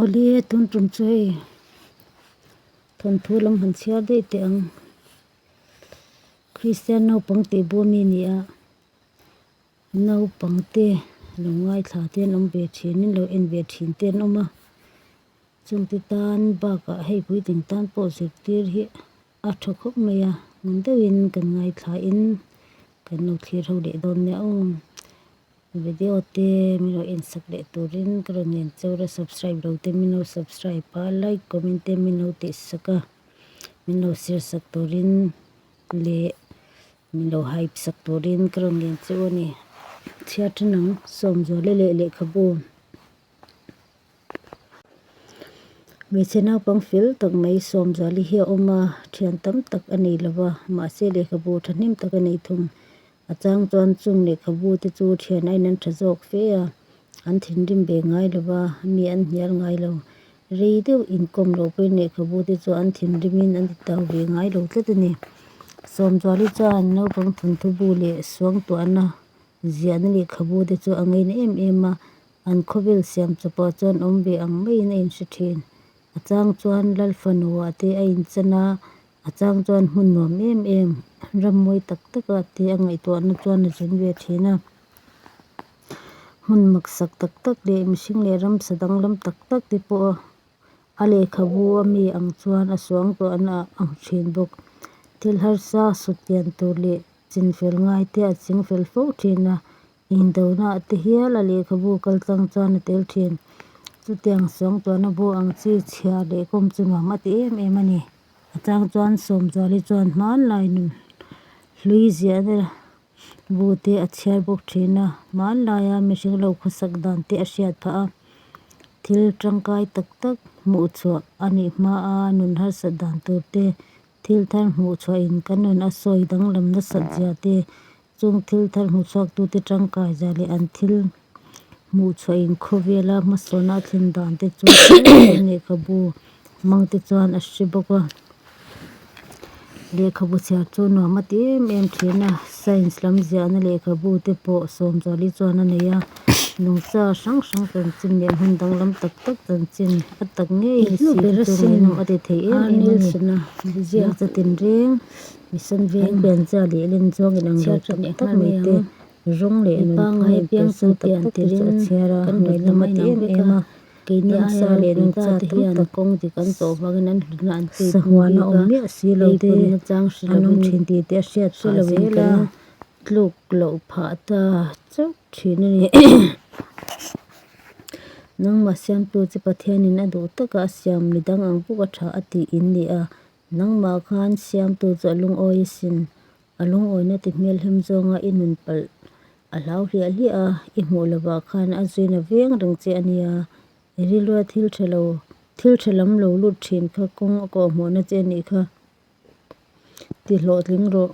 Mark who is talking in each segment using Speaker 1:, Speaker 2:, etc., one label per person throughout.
Speaker 1: Awle tun tum chu hei thawnthu lam han chhiar daih teh ang. Kristian naupang tih bua mi ni a, naupang te lo ngaithla te an awm ve thin in, lo en ve thin te an awm a, chungte tan bakah hei puitling tan pawh zirtir hi-- A tha khawp mai a, ngun deuhin kan ngaithlahin kan lo thlirho leh dawn nia aw. Video te min lo en sak leh turin ka rawn en chur a, subscribe lo te min lo subscribe a, like comment te min lo tih sak a, min lo share sak turin leh min lo hype sak turin ka rawn en chu a ni. Chhia tha nang, Sawmzuale leh Lehkhabu. Hmeichhe naupang fel tak mai Sawmzuali hi a awm a, thian tam tak a nei lova, mahse lehkhabu thahnem tak a nei thung. A chang chuan chung lehkhabu te chu thian a in en tha zawk fe a, an thinrim ve ngai lova, mi an hnial ngai lo. Rei deuh inkawm loh pawhin lehkhabu te chu an thinrimin an titau ve ngai lo tlat a ni. Sawmzuali chuan naupang thawnthu bu leh suangtuahna ziahna lehkhabu te chu a ngaina em em a. An khawvel siam chu pawh chuan awm ve ang maiin a inhre thin. A chang chuan lal fanu ah te a inchen a, a chang chuan hmun nuam em em, ram mawi tak tak ah te a ngaihtuahna chuan a zun ve thin a. Hmun maksak tak tak leh mihring leh ramsa danglam tak tak te pawh a lehkhabu a mi ang chuan a suangtuahna ah a hmu thin bawk. Thil harsa sut lian tur leh chinfel ngai te a chingfel fo thin a, Indona a ti hial a lehkhabu kal chang chuan a tel thin. Chutiang sawng tuahna bu ang chi chhiah leh kawm chu nuam a ti em em a ni. A chang chuan Sawmzuali chuan hmanlai nun hlui ziah na bu te a chhiar bawk thin a, hmanlaia mihring lo khawsak dan te a hriat phah a. Thil tangkai tak tak hmuh chhuah a nih hma a nun harsat dan tur te, thil thar hmuh chhuah in kan nun a sawi danglam nasat zia te Chûng thil thar hmuchhuaktute ṭangkai zia leh an thil hmuhchhuahin khawvêla hmasawnah thlin dânte chu Thailand lehkhabu hmangte chuan a hre bawk a. Lehkhabu chhiar chu nuam ât êm êm ṭhîn a, Science lam ziahna lehkhabute pawh Sâwmzuali chuan a nei a, nungcha hrang hrang chanchin leh hmun danglam tak tak chanchin a tak ngei hi si chu ngaihnawm a ti thei êm êm a ni. Hmarcha tinrêng. Mihsan veng pianzia leh len zawng in ang rei tak tak mai te, rawng leh nunphai in piansan tak tak te chu a chhiar a, ngaihna mati em em a, nunsa leh nuncha te hi tak tak sahuan a awm miah si lo te, a nawm thin tih te a hriat phah zel a, tluk loh phah ta chauh thin a ni, nangmah siamtu chu Pathian in a duh tak a, a siam midang ang bawk a tha a tiin ni a, Nangmah khan siamtu chu a lungawi isin, a lungawina ti hmelhem zawnga i nun palh a hlau hliah hliah a, i hmuh lovah khan a zuin a veng reng che a nia. I rilrual thil ṭha lo, thil ṭha lam lo lut ṭhin kha kawng a kawhhmuhna che a nih kha ti hlawhtling rawh.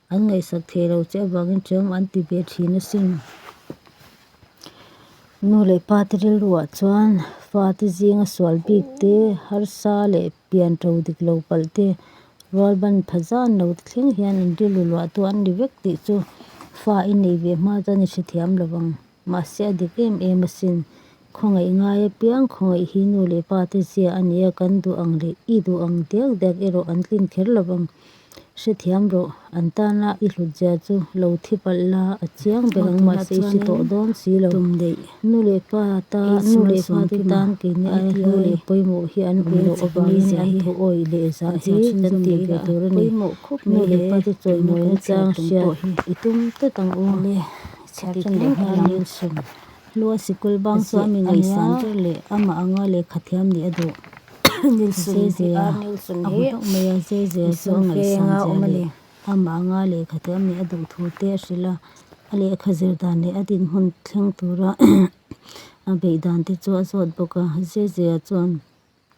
Speaker 1: An ngaihsak thei lo che avangin ṭhianghmah an ti ve ṭhin asin. Nu leh pate rilruah chuan fate zinga sual bik te, harsa leh pian ṭo dik lo palh te, rualban pha zan lo te thleng hian in rilru luahtu an ni vek tih chu fa i nei ve hma chuan i hrethiam lo vang. Mahse a dik em em asin. Khawngaih ngai apiang khawngaih hi nu leh pa te zia a nia kan duh ang leh i duh ang diak diak erawh an tlin kher lo vang. Hrethiam rawh, an tana i hlutzia chu lo thi palh la a chiang ber ang mahse i hre tawh dawn si lo. Nu leh pa ta nu leh pa te tan kei ni ai hlu leh pawimawh hi an awm loh avangin an thu awih leh zah hi kan tih ve tur a ni. Nu leh pa te chawi mawina chang hriat i tum tlat ang u. Chhiatsan leh hmel ang in sawn. Hlua sikul bang chu a mi ngaihsan ber leh a mah anga lehkha thiam nih a duh. Nilsun hi a Nilsun hi Nilsun fênga awm a ni. A mah anga lehkha thiam nih a duh thu te a hrilh a. A lehkha zir dan leh a dinhmun thleng tura a beih dan te chu a zawt bawk a. Zezia chuan.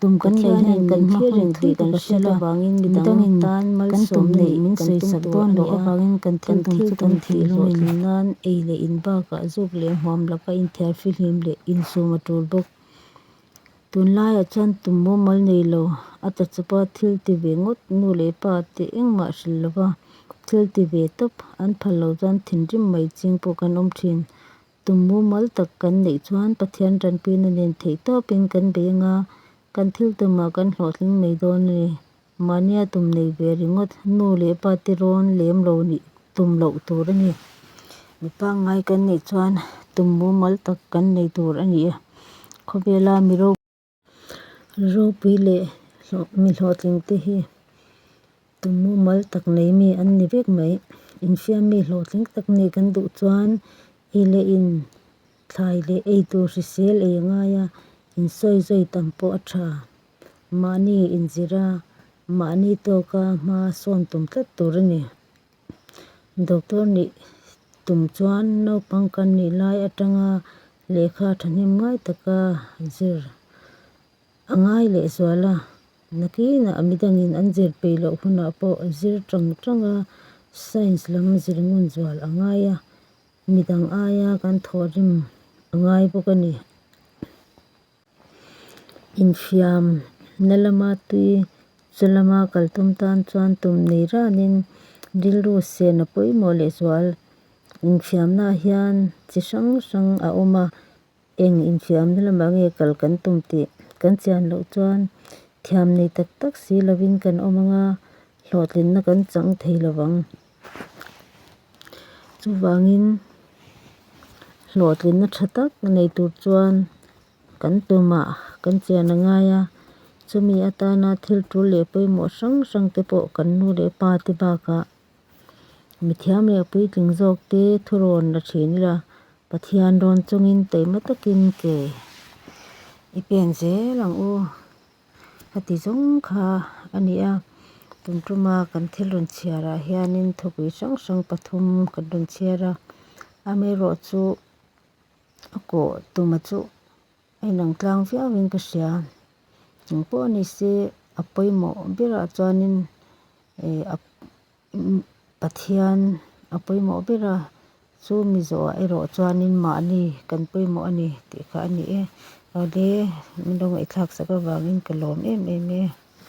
Speaker 1: Tum kan lei hian kan thlir reng tih ka hriat avangin midang tan malsawm neih min sawisak dawn loh avangin kan thil tum chu kan thih zawh thin nan ei leh in bakah zuk leh hmuam laka inthiar fihlim leh insum a tul bawk. Tunlaiah chuan tum mumal nei lo a ta chupa thil ti ve ngawt nu leh pa teh engmah hrilh lova thil ti ve tawp an phal lo chuan thinrim mai ching pawh kan awm thin. Tum mumal tak kan neih chuan Pathian tanpin a nen theih tawpin kan bei anga kan thil tumah kan hlawhtling mai dawn a ni. Mahnia tum nei ve ringawt, nu leh pa tirawn lem lo nih tum loh tur a ni. Mi pangngai kan neih chuan tum mumal tak kan nei tur a ni. Khawvela mi ropui. Ropui leh mi hlawhtling te hi tumawmal tak nei mi an ni vek mai. Infiam mi hlawhtling tak ni kan duh chuan i leh in thlai leh ei tur hrisel ei a ngai a, insawi zawi tam pawh a tha. Mahni inzira, mahni tawka hma sawn tum tlat tur a ni. Doctor nih tum chuan naupang kan nih lai atanga lehkha thahnem ngai taka an zir. A ngai leh zual a, nakinah a midangin an zir peih loh hunah pawh a zir ṭang ṭang a, science lam zir ngun zual a ngai a, midang aia kan thawh rim a ngai bawk a ni. Infiam na lama tui chu lama kal tum tan chuan tum nei ranin rilru sehna pawimawh leh zual infiamna ah hian chi hrang hrang a awm a eng infiam na lamah nge kal kan tum tih kan chian loh chuan thiam nei tak tak si lovin kan awm anga hlawhtlinna kan chang thei lovang. Chuvangin hlawhtlinna tha tak nei tur chuan kan tumah kan chian a ngai a, chumi atana thil tul leh pawimawh hrang hrang te pawh kan nu leh pa te bakah mithiam leh puitling zawk te thurawn la thin ila, Pathian rawn chungin taima takin ke i pen zel ang u. a ti zawng kha a ni a tum tuma kan thil rawn chhiar ah hianin thawkpui hrang hrang pathum kan rawn chhiar a amerawh chu a kawh tuma chu a inang tlang viau in ka hria chungpawh nise a pawimawh berah chuanin ehh a-- Pathian a pawimawh ber a, chu Mizoah erawh chuanin mahni kan pawimawh a ni tih kha a ni e. Awle, min lo ngaihthlak sak avangin ka lawm em em e.